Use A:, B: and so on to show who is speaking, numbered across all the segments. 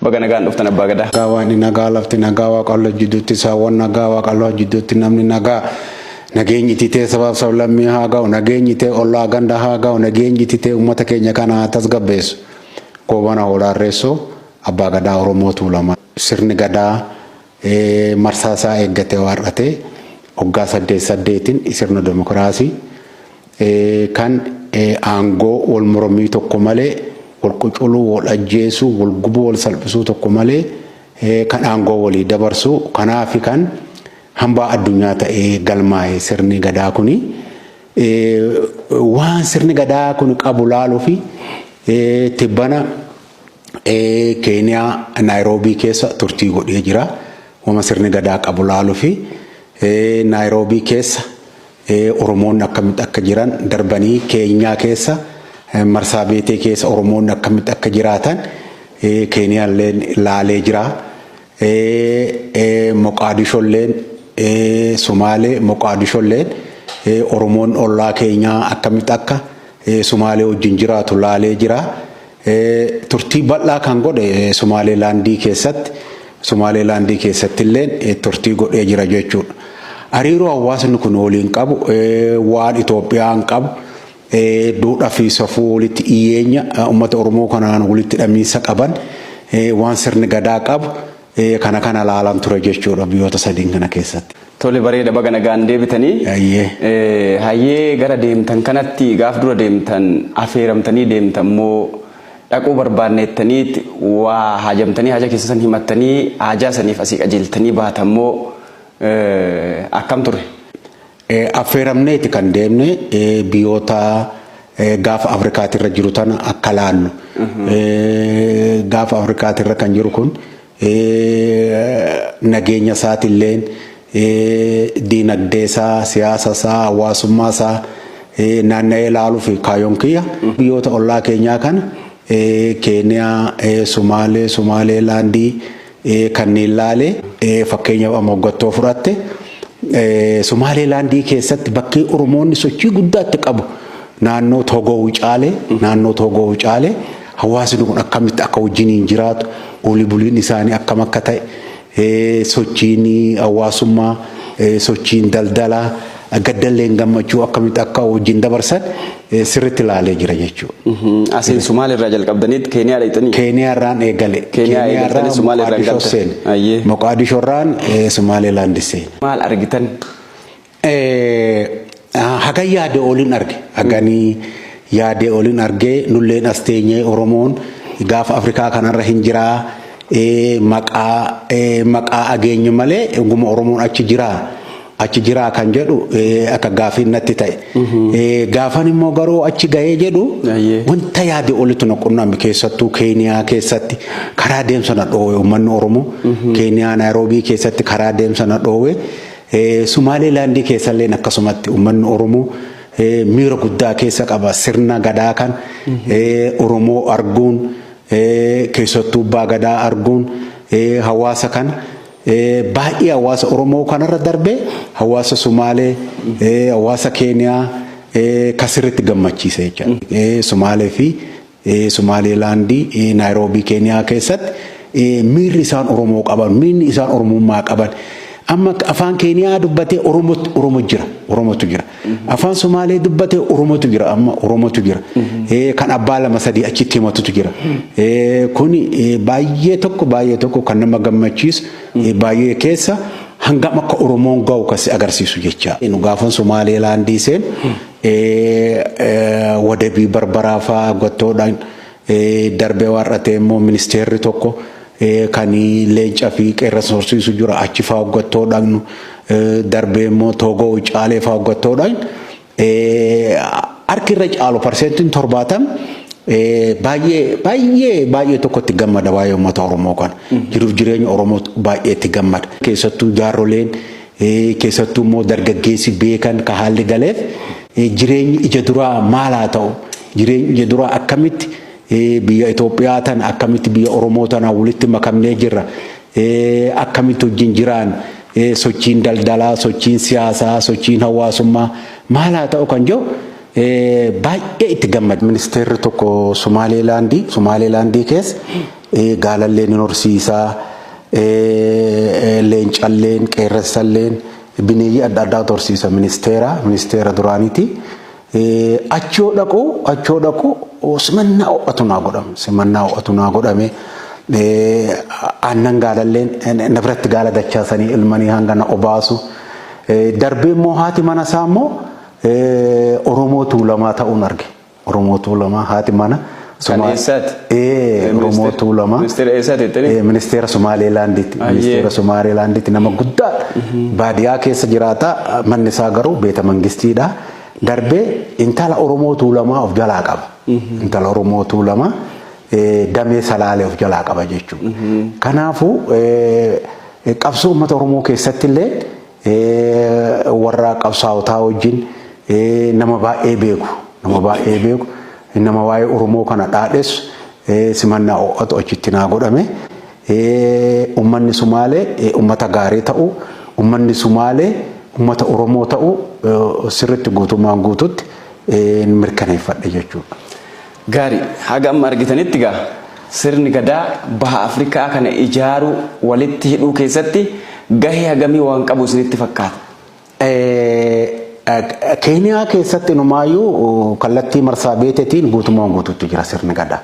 A: Baga nagaan dhuftan abbaa gadaa. Nagaa waaqni nagaa lafti
B: nagaa waaqallo jidduutti saawwan nagaa waaqallo jidduutti namni nagaa nageenyi titee sabaaf sablammii haa ga'u nageenyi tee ollaa ganda haa ga'u nageenyi titee uummata keenya kana haa tasgabbeessu goobana hoolaarreessoo abbaa gadaa oromoo tuulamaa sirni gadaa marsaa isaa eeggatee waar'ate waggaa saddeet saddeetiin sirna demokraasii kan aangoo wal mormii tokko malee wal quculuu wal ajjeesuu wal gubuu wal salphisuu tokko malee kan aangoo walii dabarsuu kanaafi kan hambaa addunyaa ta'ee galmaa'e sirni gadaa kuni waan sirni gadaa kun qabu laaluufi tibbana Keeniyaa Naayiroobii keessa turtii godhee jira. Wama sirni gadaa qabu laalufi Naayiroobii keessa Oromoonni akkamitti akka jiran darbanii Keenyaa keessa marsaa beetee keessa Oromoonni akkamitti akka jiraatan Keeniyaalleen laalee jira. Moqaadisholleen Sumaalee Moqaadisholleen Oromoon ollaa keenyaa akkamitti akka Sumaalee wajjin jiraatu laalee jira. Turtii bal'aa kan godhe Somaalilaandii keessatti Somaalilaandii keessatti illee turtii godhee jira jechuudha. Hariiroo hawaasni kun waliin qabu waan Itoophiyaan qabu duudhaa fi safuu walitti dhiyeenya uummata Oromoo kanaan walitti hidhamiinsa qaban waan sirni gadaa qabu Ee kana kana laalan ture jechuudha biyyoota sadiin kana keessatti. Tole bareeda baga
A: nagaan deebitanii. Hayyee. Eh, Hayyee gara deemtan kanatti gaaf dura deemtan afeeramtanii deemtan moo dhaquu barbaanneettaniit waa haajamtanii haja keessa san himattanii haajaa saniif asii qajeeltanii baatan moo eh, akkam ture?
B: Affeeramneeti kan deemne biyoota gaafa Afrikaatirra jiru tana akka laallu. Gaafa Afrikaatirra kan jiru kun nageenya isaatilleen diinagdee isaa, siyaasa isaa, hawaasummaa isaa naanna'ee laaluuf kaayoon kiyya. Biyoota ollaa keenyaa kana Keeniyaa, Sumaalee, Sumaaleelaandii, kanneen laale. Fakkeenyaaf amma hoggattoo fudhatte Sumaalee laandii keessatti bakkee Oromoonni sochii guddaa itti qabu naannoo Toogoo Wucaale naannoo Toogoo Wucaale hawaasni kun akkamitti akka wajjiniin jiraatu olii buliin isaanii akkam akka ta'e sochiin hawaasummaa sochiin daldalaa Gaddalleen gammachuu akkamitti akka wajjin dabarsan sirriitti ilaalee jira jechuudha. Asiin Sumaalee irraa
A: jalqabdaniit Keeniyaa dhaqxanii? Keeniyaa irraan eegale.
B: Keeniyaa eegaltanii Sumaalee
A: irraan Moqaadishoo galtan. seene. Ayyee. Moqaadishoo irraan
B: Sumaaleelaandi seene. Maal argitan? Hagan yaade oliin arge. Haganii yaade oliin arge nulleen as teenyee Oromoon gaafa Afrikaa kanarra hin jiraa maqaa maqaa ageenye malee dhuguma Oromoon achi jiraa. achi jiraa kan jedhu akka gaafiin natti ta'e. Gaafan immoo garuu achi gahee jedhu wanta yaade olitti na qunname keessattuu Keeniyaa keessatti karaa deemsa na dhoowwe uummanni Oromoo. Keeniyaa Naayiroobii keessatti karaa deemsa na dhoowwe. Sumaalee laandii keessallee akkasumatti uummanni Oromoo miira guddaa keessa qaba sirna gadaa kan Oromoo arguun keessattuu abbaa gadaa arguun hawaasa kan Baay'ee hawaasa Oromoo kanarra darbee hawaasa Sumaalee, hawaasa Keeniyaa kan sirriitti gammachiise jechaadha. Sumaalee fi Sumaalee Laandii Naayiroobii Keeniyaa keessatti miirri isaan Oromoo qaban, miirri isaan Oromummaa qaban amma afaan Keeniyaa dubbatee Oromo jira, Oromotu jira. Afaan Somaalee dubbate Oromotu jira amma Oromotu jira. Kan abbaa lama sadii achitti himatutu jira. Kun baay'ee tokko baay'ee tokko kan nama gammachiisu baay'ee keessa hangam akka Oromoon ga'u kan si agarsiisu jecha. Nu gaafan Somaalee laandii seen wadabii barbaraa fa'aa gottoodhaan Darbee waar'atee immoo ministeerri tokko kan leenca fi qeerransa horsiisu jira achi faa hoggattoo dhaqnu darbee immoo toogoo ucaalee faa hoggattoo dhaqnu harki irra caalu parseentiin torbaatam baay'ee baay'ee baay'ee tokkotti gammada waa'ee uummata Oromoo kana jiruuf jireenya Oromoo baay'ee itti gammada keessattuu jaarroleen Keessattuu immoo dargaggeessi beekan ka haalli galeef jireenyi ija duraa maal haa ta'u? Jireenyi ija duraa akkamitti biyya Itoophiyaa tana akkamitti biyya Oromoo tanaan walitti makamnee jirra? Akkamitti wajjin jiraan? Sochiin daldalaa, sochiin siyaasaa, sochiin hawaasummaa maal haa ta'u kan jedhu baay'ee itti gammade. Ministeerri tokko Sumaaleelaandii Sumaaleelaandii keessa Gaalalleen hin horsiisa, leencalleen, qeerransalleen bineeyyii adda addaatu horsiisa ministeera ministeera duraaniiti. Achi yoo dhaqu achi yoo dhaqu simannaa ho'atu naa godhame simannaa ho'atu naa godhame aannan gaalalleen na biratti gaala dachaasanii ilmanii hanga na obaasu darbee immoo haati mana isaa immoo Oromoo Tuulamaa ta'uun arge. Oromoo Tuulamaa haati mana Kan Somaal- eessaati? Ee, Oromoo Ministeera- Tuulamaa. Ministeera eessaati jettanii? Ee, Ministeera Somaaleelaandiiti. Ayyee. Ministeera Somaaleelaandiiti nama guddaa baadiyaa keessa jiraata. Manni isaa garuu beeta mangistiidha. Darbee intala Oromoo Tuulamaa of jalaa qaba. Intala Oromoo Tuulamaa ee, damee salaalee of jalaa qaba jechuudha. Kanaafuu ee, qabsoo uummata Oromoo keessatti illee warra qabsaa'otaa wajjin nama baay'ee beeku nama baay'ee beeku nama waa'ee Oromoo kana dhaadhessu simannaa ho'atu achitti naa godhame. Ummanni Sumaalee ummata gaarii ta'u ummanni Sumaalee ummata Oromoo ta'u sirriitti guutummaan guututti mirkaneeffadhe jechuudha. Gaarii.
A: Haga amma argitanitti egaa sirni Gadaa Baha Afrikaa kana ijaaruu, walitti hidhuu keessatti gahee hagamii waan qabu isinitti fakkaata?
B: Keeniyaa keessatti inumaayyuu kallattii marsaabeetetiin guutumaan guutuutti jira sirni Gadaa.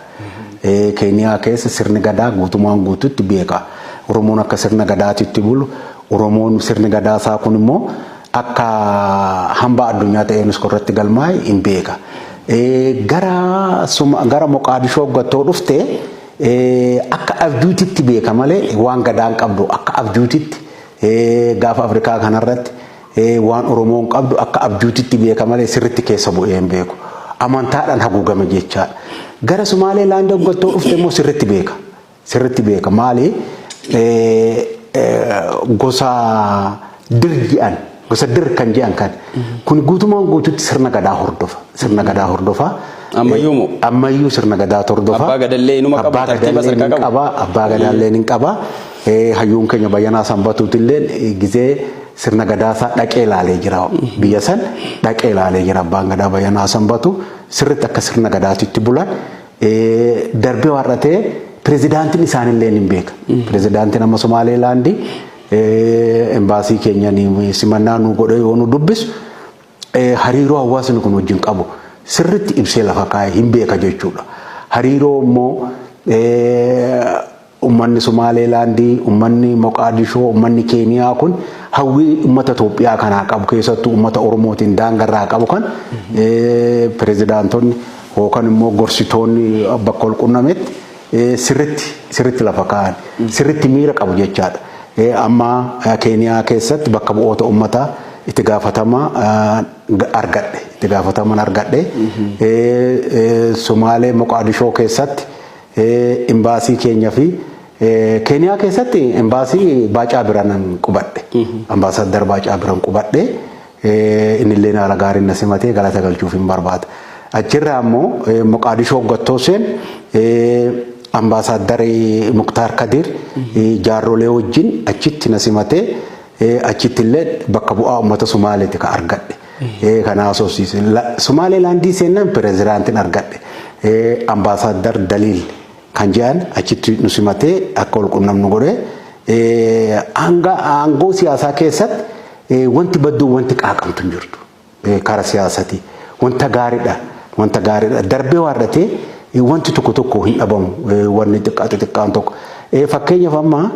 B: Keeniyaa keessa sirni Gadaa guutumaan guutuutti beeka. Oromoon akka sirna Gadaatitti bulu, Oromoon sirni Gadaa isaa kunimmoo akka hambaa addunyaa ta'ee unesco irratti galmaa'e hin beeka. Gara gara Moqaadishoo gattoo dhufte akka abjuutitti beeka malee waan gadaan qabdu akka abjuutitti gaafa Afrikaa kanarratti waan Oromoon qabdu akka abjuutitti beeka malee sirritti keessa bu'ee hin beeku. Amantaadhaan haguugame jechaadha. Gara Sumaalee laandoo gattoo dhufte immoo sirritti beeka. sirritti beeka maali gosa dir ji'an gosa dir kan ji'an kan kun guutumaan guututti sirna gadaa hordofa sirna gadaa hordofa Ammayyuu moo? ammayyuu sirna gadaa hordofa Abbaa gadallee inuma qabu, abbaa
A: tartiiba gadallee sadarkaa ni qabu. qaba abbaa gadaallee ni
B: qaba Eh, hayyuun keenya bayyanaa sanbatuutillee eh, gizee sirna gadaa isaa dhaqee ilaalee jira biyya san dhaqee ilaalee jira abbaan gadaa bayyanaa sanbatu sirritti akka sirna gadaatitti bulan Darbee har'atee pirezidaantiin isaanillee ni beeka. Pirezidaantiin amma Somaaleelaandi embaasii keenya simannaa nu godhee yoo nu dubbisu hariiroo hawaasni kun wajjin qabu sirriitti ibsee lafa kaa'e hin beeka jechuudha. Hariiroo immoo Ummanni Sumaalee Laandii, ummanni Moqaadishoo, ummanni Keeniyaa kun hawwii ummata Itoophiyaa kanaa qabu keessattuu ummata Oromootiin daanga irraa qabu kan pirezidaantonni yookan immoo gorsitoonni bakka wal qunnametti sirritti sirritti lafa kaa'an sirritti miira qabu jechaadha. Amma Keeniyaa keessatti bakka bu'oota ummataa itti gaafatama argadhe itti gaafataman argadhe Sumaalee Moqaadishoo keessatti Imbaasii keenya fi Keeniyaa keessatti imbaasii Baacaa Biranan qubadhe. Ambaasaaddar Baacaa Biran qubadhe. Innillee haala gaariin na simatee galata galchuuf hin barbaada. Achirraa immoo Moqaadishoo hoggattoo seen ambaasaaddar Muktaar Kadiir jaarrolee wajjin achitti na simatee achittillee bakka bu'aa uummata Sumaaleeti ka argadhe. Ee kan haasofsiise. Sumaalee laandii seennan pirezidaantiin argadhe. Ambaasaaddar Daliil kan jedhan achitti nu simatee akka wal qunnamnu godhe. Hanga aangoo siyaasaa keessatti wanti badduu wanti qaaqamtu hin jirtu. Kara siyaasati. Wanta gaariidha. Wanta gaariidha. Darbee waardatee wanti tokko tokko hin dhabamu. Wanni xiqqaa xixiqqaan tokko. Fakkeenyaaf amma